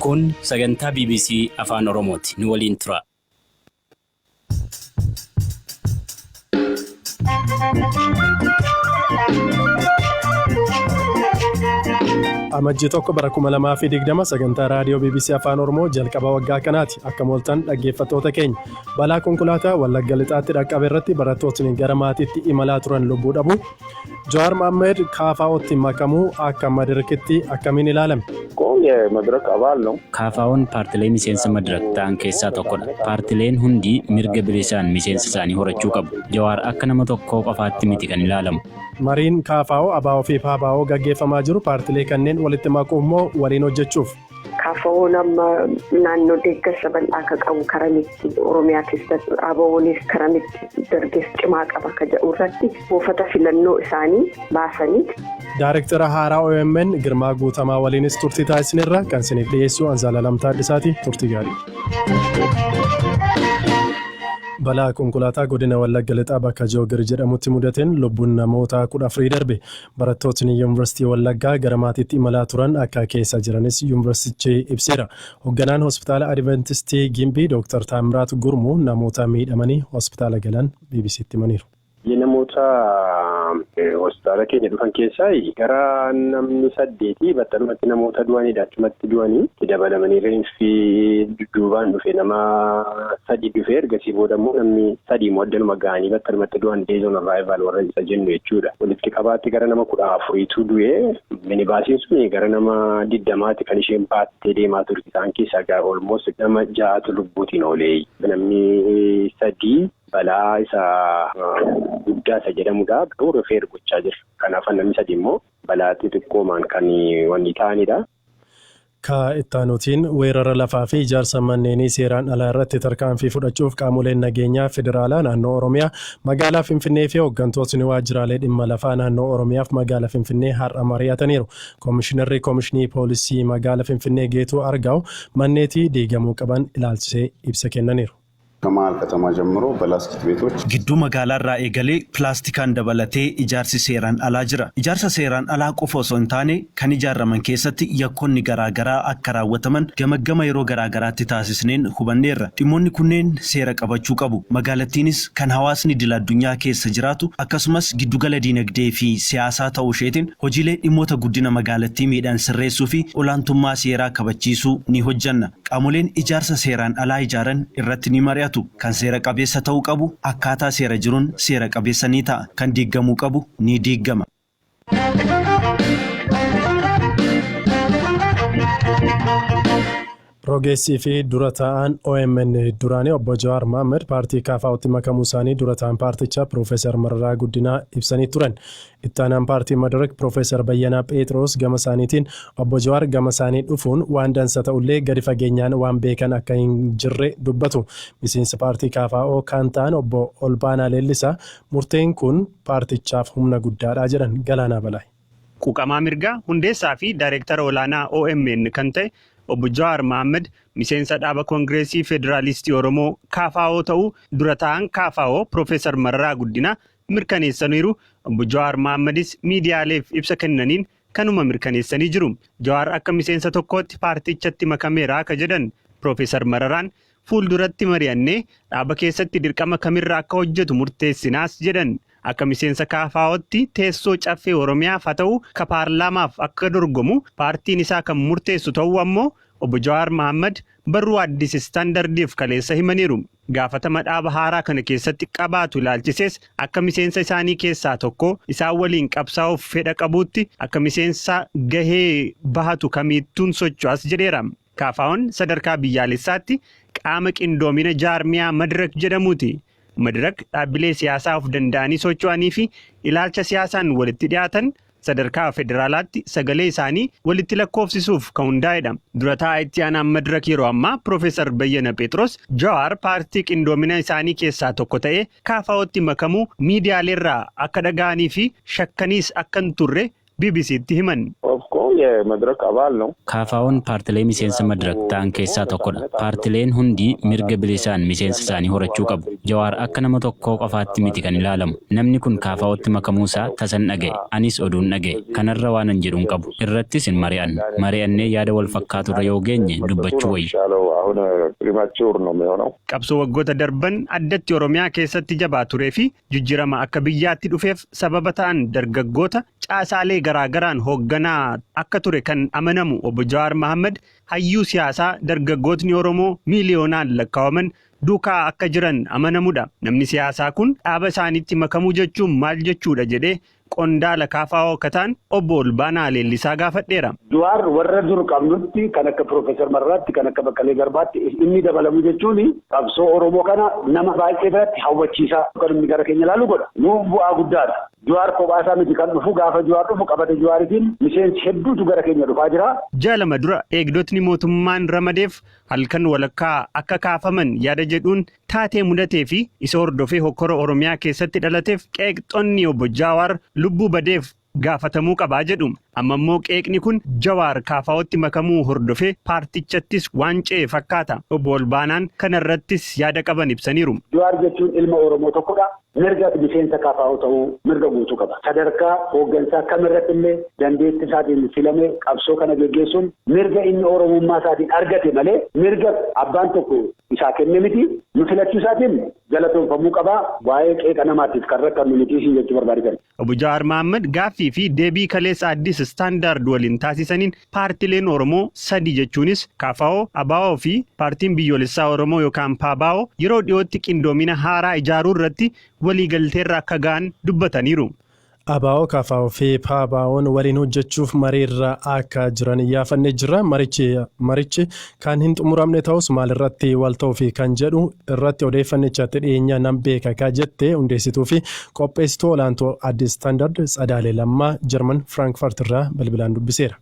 Kun sagantaa bbc Afaan Oromooti. Nu waliin turaa. Amajjii 1 bara 2020 sagantaa raadiyoo bbc Afaan Oromoo jalqaba waggaa kanaati. Akka mooltan dhaggeeffattoota keenya. Balaa konkolaataa Wallagga Lixaatti dhaqqabe irratti barattootni gara maatiitti imalaa turan lubbuu dhabu. Jawaar Mohammed KFOtti makamuu akka Madirikitti akkamiin ilaalame? KFOn paartilee miseensa Madirak ta'an keessaa tokkodha. Paartileen hundi mirga bilisaan miseensa isaanii horachuu qabu. Jawaar akka nama tokkoo qofaatti miti kan ilaalamu. Mariin KFO, ABO fi PABO gaggeeffamaa jiru paartilee kanneen walitti maquuf moo waliin hojjechuuf? Kaafawoon amma naannoo deeggarsa bal'aa akka qabu karamitti Oromiyaa keessatti ABO'nis karamitti dargaggeessa cimaa qaba akka jedhu irratti buufata filannoo isaanii baasanii. Daarektara haaraa OMN Girmaa Guutamaa waliinis turtii taasisneerra kan isiniif dhiyeessu Anzaalaalam Taadhisaati turtii gaarii. Balaa konkolaataa godina Wallagga Lixaa bakka Joogir jedhamutti mudateen lubbuun namoota kudha afurii darbe. Barattootni Yuunvarsiitii Wallaggaa gara maatiitti imalaa turan akka keessa jiranis yuunvarsiitichi ibseera. Hogganaan Hospitaala Adivantistii Gimbii Dooktar Taammiraat Gurmuu namoota miidhamanii hospitaala galan BBC'tti himaniiru. Namoota hospitaala keenya dhufan keessaa gara namni saddeetii battalumatti namoota du'aniidha. Achumatti du'anii itti dabalamanii reenfi dudduubaan dhufe nama sadii dhufee ergasii booda immoo namni sadii immoo addanuma ga'anii battalumatti du'an days on arrival warra isa jennu jechuudha. Walitti qabaatti gara nama kudha afuriitu du'e minibaasiin sun gara nama digdamaati kan isheen baattee deemaa turte isaan keessaa gara olmoos nama ja'atu lubbuutiin oolee namni sadii balaa isa guddaa isa jedhamudha garuu rifeer gochaa jira. Kanaaf namni sadii immoo balaa xixiqqoomaan kan wanni ta'anidha. Ka ittaanuutiin, weerara lafaa fi ijaarsa manneenii seeraan alaa irratti tarkaanfii fudhachuuf qaamoleen nageenyaa Federaalaa, Naannoo Oromiyaa, Magaalaa Finfinnee fi hoggantootni waajjiraalee dhimma lafaa Naannoo Oromiyaaf Magaala Finfinnee har'a mari'ataniiru. Komishinarri Komishinii Poolisii Magaala Finfinnee Geetuu Argaaw manneetii diigamuu qaban ilaalchisee ibsa kennaniiru. Kamaal Katamaa Jammiro Balaastik Beetoch. Gidduu magaalaarraa eegalee pilaastikaan dabalatee ijaarsi seeraan alaa jira. Ijaarsa seeraan alaa qofa osoo hin taane kan ijaarraman keessatti yakkoonni garaa garaa akka raawwataman gamaggama yeroo garaa garaatti taasisneen hubanneerra. Dhimmoonni kunneen seera qabachuu qabu. Magaalattiinis kan hawaasni idil addunyaa keessa jiraatu akkasumas giddugala diinagdee fi siyaasaa ta'uu isheetiin hojiilee dhimmoota guddina magaalattii miidhan sirreessuu fi olaantummaa seeraa kabachiisuu ni hojjanna. Qaamoleen ijaarsa seeraan alaa ijaaran irratti ni mari'atu. Kan seera qabeessa ta'uu qabu akkaataa seera jiruun seera qabeessa ni ta'a. Kan diiggamuu qabu ni diiggama. Rogeessii fi dura taa'aan OMN duraanii obbo Jawaar Mohaammed paartii KFOtti makamuu isaanii dura taa'aan paartichaa Piroofeesar Mararaa Guddinaa ibsanii turan. Itti aanaan paartii Madirak Pirofeesar Bayyanaa Pheexiroos gama isaaniitiin, Obbo Jawaar gama isaanii dhufuun waan dansa ta'ullee gadi fageenyaan waan beekan akka hin jirre dubbatu. Miseensa paartii KFO kaan ta'an Obbo Olbaanaa Leellisaa murteen kun paartichaaf humna guddaadha jedhan. Galaanaa Balaay. Quuqamaa mirgaa, hundeessaa fi daayireektara olaanaa omn kan ta'e Obbo Jawaar Mahaammad miseensa dhaaba Kongireesii Federaalistii Oromoo, KFO, ta'uu dura taa'aan KFO Pirofeesar Mararaa Guddinaa mirkaneessaniiru. Obbo Jawaar Mohaammadis miidiyaaleef ibsa kennaniin kanuma mirkaneessanii jiru. Jawaar akka miseensa tokkootti paartichatti makameera ka jedhan Piroofeesar Mararaan, fuulduratti mari'annee dhaaba keessatti dirqama kamirra akka hojjetu murteessinaas jedhan. Akka miseensa KFOtti teessoo Caffee Oromiyaaf ha ta'u ka paarlaamaaf akka dorgomu paartiin isaa kan murteessu ta'uu ammoo Obbo Jawaar Mahaammad barruu Addis Standardiif kaleessa himaniiru. Gaafatama dhaaba haaraa kana keessatti qabaatu ilaalchisees akka miseensa isaanii keessaa tokko isaan waliin qabsaa'uuf fedha qabuutti akka miseensa gahee bahatu kamiittuun socho'as jedheera. KFOn sadarkaa biyyaalessaatti qaama qindoomina jaarmiyaa Madrak jedhamuuti. Madirak dhaabbilee siyaasaa of danda'anii socho'anii fi ilaalcha siyaasaan walitti dhiyaatan sadarkaa federaalaatti sagalee isaanii walitti lakkoofsisuuf kan hundaa'edha. Dura taa'aa itti aanaan Madirak yeroo ammaa Piroofeesar Bayyana Pheexiroos Jawaar paartii qindoomina isaanii keessaa tokko ta'ee KFOtti makamuu miidiyaaleerraa akka dhaga'anii fi shakkaniis akka hin turre BBC'tti himan. KFO'n paartilee miseensa Madrak ta'an keessaa tokkodha. Paartileen hundi mirga bilisaan miseensa isaanii horachuu qabu. Jawaar akka nama tokkoo qofaatti miti kan ilaalamu. Namni kun KFO'tti makamuusaa tasan dhaga'e. Anis oduun dhaga'e. Kanarra waanan jedhu hin qabu. Irrattis hin mari'annu. Mari'annee yaada wal fakkaaturra yoo geenye dubbachuu wayya. Qabsoo waggoota darban addatti Oromiyaa keessatti jabaa tureefi Jijjirama akka biyyaatti dhufeef sababa ta'an dargaggoota caasaalee garaa garaan hoogganaa akka ture kan amanamu Obbo Jawaar Mahaammad hayyuu siyaasaa dargaggootni Oromoo miiliyoonaan lakkaawaman duukaa akka jiran amanamudha. Namni siyaasaa kun dhaaba isaaniitti makamuu jechuun maal jechuudha jedhee qondaala kfo akka ta'an Obbo Olbaanaa Leellisaa gaafadheera. Juwaar warra dur qabnutti kan akka Piroofeesar Mararaatti, kan akka Baqqalee Garbaatti inni dabalamu jechuun qabsoo Oromoo kana nama baay'ee biratti hawwachiisa. Kan inni gara keenya ilaalu godha. Nuuf bu'aa guddaadha. Juwaar kophaa isaa miti kan dhufu gaafa Juwaar dhufu qabata Juwaaritiin miseensi hedduutu gara keenya dhufaa jira. Ji'a lama dura eegdotni mootummaan ramadeef halkan walakkaa akka kaafaman yaada jedhuun Taatee mudatee fi isa hordofee hokkora Oromiyaa keessatti dhalateef qeeqxonni Obbo Jaawaar lubbuu badeef gaafatamuu qaba jedhu. Amma immoo qeeqni kun Jawaar KFOtti makamuu hordofee paartichattis waan ce'e fakkaata. Obbo Olbaanaan kana irrattis yaada qaban ibsaniiru. Jawaar jechuun ilma Oromoo tokkodha. Mirga miseensa kfo ta'uu mirga guutuu qaba. Sadarkaa hooggansaa kam irratti illee dandeetti isaatiin filamee qabsoo kana geggeessuun mirga inni Oromummaa isaatiin argate malee mirga abbaan tokko isaa kenne miti. Nu filachuu isaatiin galatoomfamuu qaba. Waa'ee qeeqa namaatiif kan rakkannu miti siin jechuu barbaade kana. Obbo Jawaar Mahaammad gaaffii fi deebii kaleessa Addis Standard waliin taasisaniin paartileen Oromoo sadi jechuunis kfo, abo fi Paartiin Biyyoolessaa Oromoo yookaan pbo yeroo dhiyootti qindoomina haaraa ijaaruu irratti waliigalteerra akka ga'an dubbataniiru. Abo, kfo fi PABOn waliin hojjechuuf mariirra akka jiran iyyaafanne jirra. Marichi Kan hin xumuramne ta'us maalirratti wal ta'uufi kan jedhu irratti odeeffannicha itti dhiyeenya nan beeka ka jette hundeessituufi qopheessituu olaantuu Addis Standard Tsadaalee Lammaa Jarman Frankfurt irraa bilbilaan dubbiseera.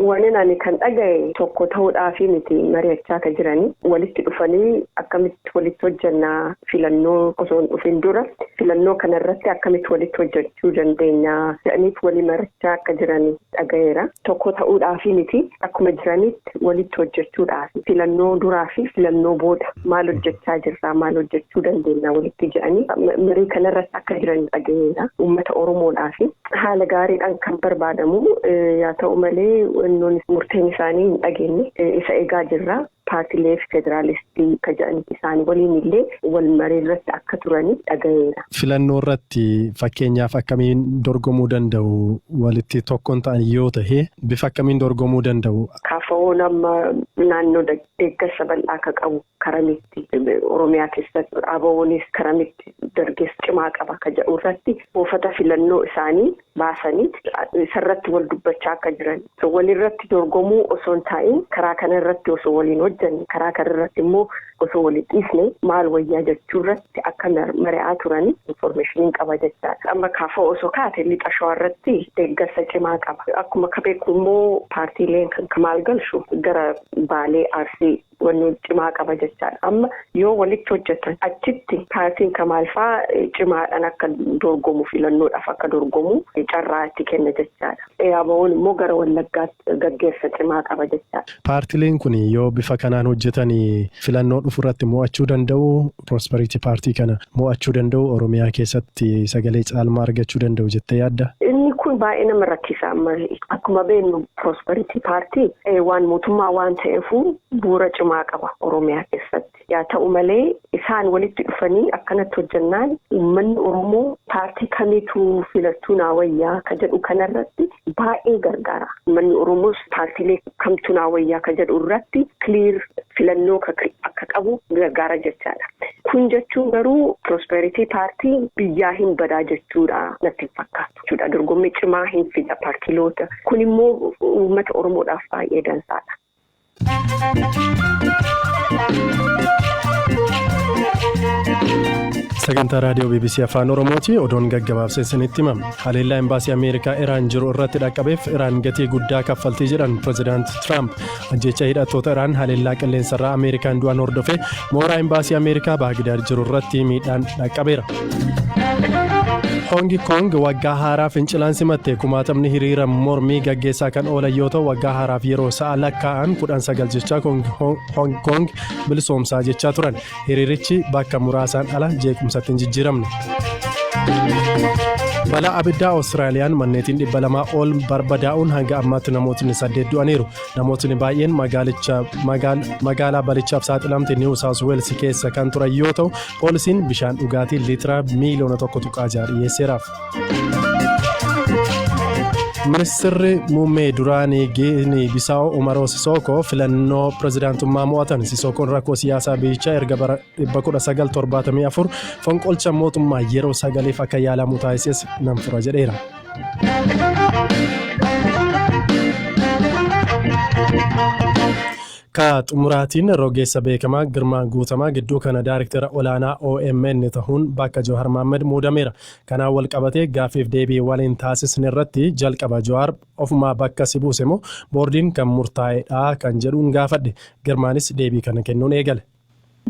Wanin ani kan dhagahe tokko ta'uudhaafi miti mari'achaa ka jirani. Walitti dhufanii akkamitti walitti hojjenna filannoo osoo hin dhufin dura filannoo kanarratti akkamitti walitti hojjechuu dandeenya jedhaniit walii marachaa akka jirani. dhagayeera. Tokko ta'uudhaaf miti akkuma jiranitti walitti hojjechuudhaaf filannoo duraa fi filannoo booda maal hojjechaa jirraa maal hojjechuu dandeenya walitti jedhanii marii kanarratti akka jiran dhagayeera. Uummata Oromoodhaaf haala gaariidhaan kan barbaadamu yaa ta'u malee murteen isaanii hin dhageenye isa egaa jirra. Paartilee Federaalistii ka jedhan isaanii waliin illee walmarii irratti akka turani dhagayeera. Filannoo irratti fakkeenyaaf akkamiin dorgomuu danda'u? Walitti tokkon ta'an yoo tahe bifa akkamiin dorgomuu danda'u? KFOn amma naannoo deeggarsa bal'aa akka qabu karamitti Oromiyaa keessatti ABOnis karamitti dargeessa cimaa qaba ka jedhu irratti buufata filannoo isaanii baasanii isarratti wal dubbachaa akka jiran walirratti dorgomuu osoo hin taa'in karaa kana irratti osoo waliin hojjanne karaa kana irratti immoo osoo waliin dhiisne maal wayyaa jechuu irratti akka mari'aa turan infoormeeshiniin qaba jechaadha. Amma kaafoo osoo kaate lixa shawaa irratti deeggarsa cimaa qaba. Akkuma akka beeku immoo paartiileen kan kamaal galchu gara baalee arsii Wanni cimaa qaba jechaadha. Amma yoo walitti hojjatan achitti paartiin Kamaal faa cimaadhaan akka dorgomu filannoodhaaf akka dorgomu carraa itti kenna jechaadha. ABOn immoo gara Wallaggaatti gaggeessa cimaa qaba jechaadha. Paartileen kun yoo bifa kanaan hojjatan filannoo dhufu irratti mo'achuu danda'uu? Prosperity Party kana mo'achuu danda'u Oromiyaa keessatti sagalee caalmaa argachuu danda'u jettee yaadda? Inni kun baay'ee nama rakkisa amma akkuma beeknu Prosperity Party waan mootummaa waan ta'eefuu bu'uura cimaa qaba Oromiyaa keessatti. Yaa ta'u malee isaan walitti dhufanii akkanatti hojjannaan uummanni Oromoo paartii kamiitu filattuu naa wayyaa ka jedhu kanarratti baay'ee gargaara. Uummanni Oromoos paartiilee kamtu naa wayyaa ka jedhu irratti clear filannoo akka qabu gargaara jechaadha. Kun jechuun garuu prosperity paartii biyyaa hin badaa jechuudha natti hin fakkaatu jechuudha. Dorgommii cimaa hin fida paartiloota. Kun immoo uummata Oromoodhaaf baay'ee dansaadha. Sagantaa raadiyoo BBC Afaan Oromooti odoon gaggabaabsee isinitti himama. Haleellaa Imbaasii Ameerikaa Iraan jiru irratti dhaqqabeef Iraan gatii guddaa kaffaltii jedhan Pireezidaant Tiraamp. Ajjeecha hidhattoota Iraan haleellaa qilleensarraa Ameerikaan du'an hordofee mooraa Imbaasii Ameerikaa Baagidaad jiru irratti miidhaan dhaqqabeera. Hoongi Koong waggaa haaraa fincilaan simatte kumaatamni hiriira mormii gaggeessaa kan oolan yoo ta'u waggaa haaraaf yeroo sa'a lakkaa'an kudhan sagal jechaa Hoongi Koong bilisoomsaa jechaa turan. Hiriirichi bakka muraasaan ala jeequmsatti hin jijjiiramne. Balaa abiddaa Awustiraaliyaan manneetiin dhibba lamaa ol barbadaa'uun hanga ammaatti namootni saddeet du'aniiru. Namootni baay'een magaalaa balichaaf saaxilamte Niiw Saawus Weels keessa kan turan yoo ta'u, poolisiin bishaan dhugaatii liitira miiliyoona tokko tuqaa ja'a dhiyeesseeraaf. Ministirri muummee duraanii Giinii Bisaawo Umaroo Sisookoo filannoo pirezidaantummaa mo'atan. Sisookoon rakkoo siyaasaa biyyichaa erga bara 1974 fonqolcha mootummaa yeroo sagaliif akka yaalamu taasises nan fura jedheera. Ka xumuraatiin rogeessa beekamaa Girmaa Guutamaa gidduu kana daariktera olaanaa omn tahuun bakka Jawhar Mahammad muudameera. Kanaan wal qabatee gaaffiif deebii waliin taasisne irratti jalqaba Jawhar ofumaa bakka si buuse moo boordiin kan murtaa'e dhaa kan jedhuun gaafadhe. Girmaanis deebii kana kennuun eegale.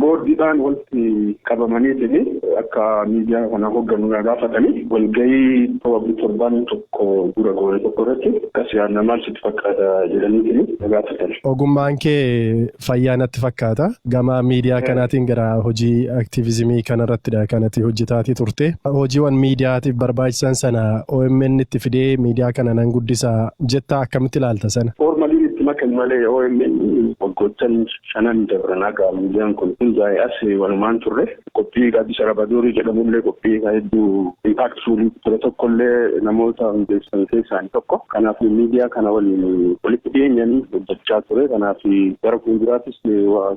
Boordiidhaan walitti qabamaniitiin akka miidiyaa kana hogganu na gaafatanii walgahii probably torbaan tokko dura goone tokko irratti akkas yaadna maal sitti fakkaata jedhaniitiin na gaafatan. Ogummaan kee fayyaa natti fakkaata. Gama miidiyaa kanaatiin gara hojii aktiivizimii kanarrattidha kan ati hojjetaatii turte. Hojiiwwan miidiyaatiif barbaachisan sana OMN itti fidee miidiyaa kana nan guddisa jetta akkamitti ilaalta sana? Foormaliin itti makan malee OMN waggoottan Shanan dabran haga miidiyaan kun hundaa'ee as walumaan turre. Qophii Gaaddisa Rabadoorii jedhamullee qophii isaa hedduu impactful ture tokkollee namoota hundeessan keessaa tokko. Kanaaf miidiyaa kana waliin walitti dhiyeenyaan hojjechaa ture. Kanaaf gara fuulduraattis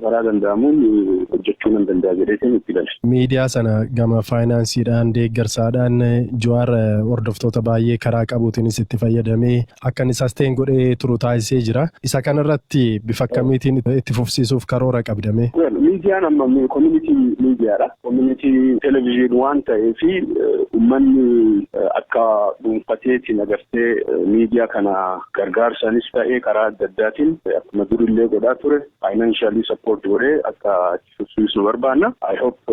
karaa danda'amuun hojjechuu nan danda'a jedheetiin itti gale. Miidiyaa sana gama faayinaansiidhaan, deeggarsaadhaan Juwaar hordoftoota baay'ee karaa qabuutiinis itti fayyadamee akka inni sustain godhee turu taasisee jira. Isa kana irratti bifa akkamiitiin itti fufsiisuuf karoora qabda mee? Well, miidiyaan amma community miidiyaadha. Community television waan ta'eef uummanni akka dhuunfateetiin agartee miidiyaa kana gargaarsaanis ta'ee karaa adda addaatiin akkuma durillee godhaa ture financially support godhee akka tursiisnu barbaanna. I hope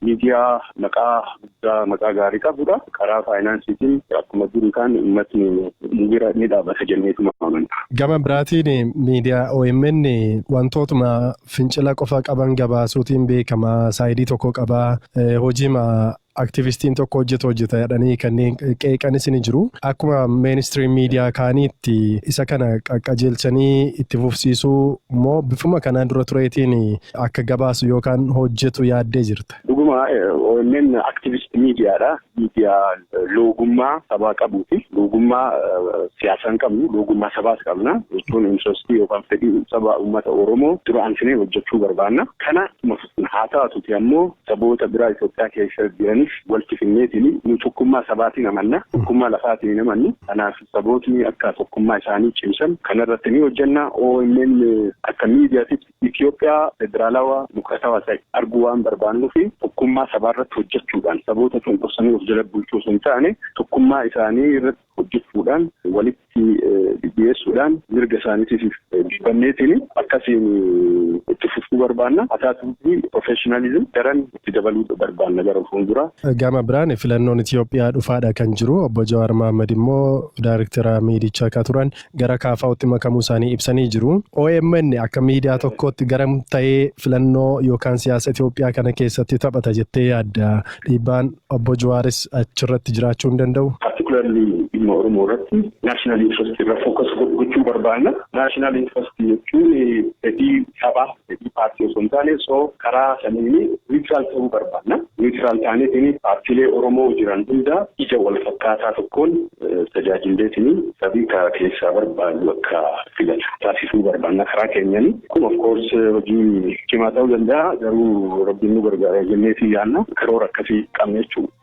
miidiyaa maqaa guddaa maqaa gaarii qabudha. Karaa faayinaansiitiin akkuma duri kaan uummatni nu bira ni dhaabata jenneetuma amanna. Gama biraatiin miidiyaa OMN wantootuma fincila qofa qaban gabaasuutiin beekama. Saayidii tokko qaba. Hojiima Aktivistiin tokko hojjeta hojjeta jedhanii kanneen qeeqanis ni jiru. Akkuma mainstream miidiyaa kaaniitti isa kana qaqqajeelchanii itti fufsiisuu moo bifuma kanaan dura tureetiin akka gabaasu yookaan hojjetu yaaddee jirta? Dhuguma omn activist media dha. Media loogummaa sabaa qabuuti. Loogummaa siyaasaa hin qabnu. Loogummaa sabaas qabna. Jechuun interest yookaan fedhii saba uummata Oromoo dura ansinee hojjechuu barbaanna. Kana Kun haa taatuti ammoo saboota biraa Itoophiyaa keessa jiraniif walti finneetini nu tokkummaa sabaatiin amanna. Tokkummaa lafaatiin hin amannu. Kanaaf sabootni akka tokkummaa isaanii cimsan kanarratti ni hojjenna. Omn akka miidiyaatitti Itoophiyaa federaalawa dimokiraatawa ta'e arguu waan barbaannufi tokkummaa sabaarratti hojjechuudhaan saboota cunqursanii of jala bulchuu osoo hin taane tokkummaa isaanii irratti hojjechuudhaan walitti dhidhiyeessuudhaan mirga isaaniitiif dubbanneetiin akkasiin itti fufuu barbaanna. Haa taatu malee professionalism daran itti dabaluu barbaanna gara fuulduraa. Gama biraan filannoon Itiyoophiyaa dhufaadha kan jiru. Obbo Jawaar Mahaammad immoo daayrektera miidichaa akka turan gara KFOtti makamuu isaanii ibsanii jiru. Omn akka miidiyaa tokkootti garam ta'ee filannoo yookaan siyaasa Itoophiyaa kana keessatti taphata jettee yaadda? Dhiibbaan Obbo Juwaaris achirratti jiraachuu hin danda'u? Particularly dhimma Oromoo irratti national interest irra focus gochuu barbaanna. National interest jechuun fedhii sabaa fedhii paartii osoo hin taane so karaa saniin niwutiraal ta'uu barbaanna. Niwutiraal taaneetiin paartiilee Oromoo jiran hundaa ija wal fakkaataa tokkoon tajaajilleetiin sabii ka keessaa barbaadu akka filatu taasisuu barbaanna karaa keenyani. Kun of course hojii cimaa ta'uu danda'a garuu rabbiin nu gargaara jenneetii yaanna karoora akkasii qabna jechuudha.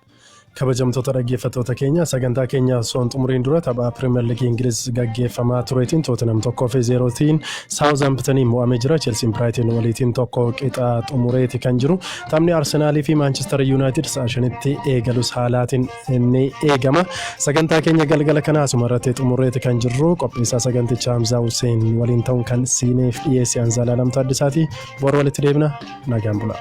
Kabajamtoota dhaggeeffattoota keenya sagantaa keenya osoo hin xumuriin dura tapha Piriimer Liigii Ingiliz gaggeeffamaa tureetiin Tootinam tokkoo fi zeerootiin Saawuzaampitaniin mo'amee jira. Chelsiin Biraayitiin waliitiin tokko qixa xumureeti kan jiru. Taphni Arsenaalii fi Maanchister Yuunaayitid sa'a shanitti eegalus haalaatiin ni eegama. Sagantaa keenya galgala kana asuma irratti xumureeti kan jirru qopheessaa sagantichaa Hamzaa Hussein waliin ta'uun kan siiniif dhiyeesse Anzaalaa Lamtaa Addisaati. Boru walitti deebina nagaan bulaa.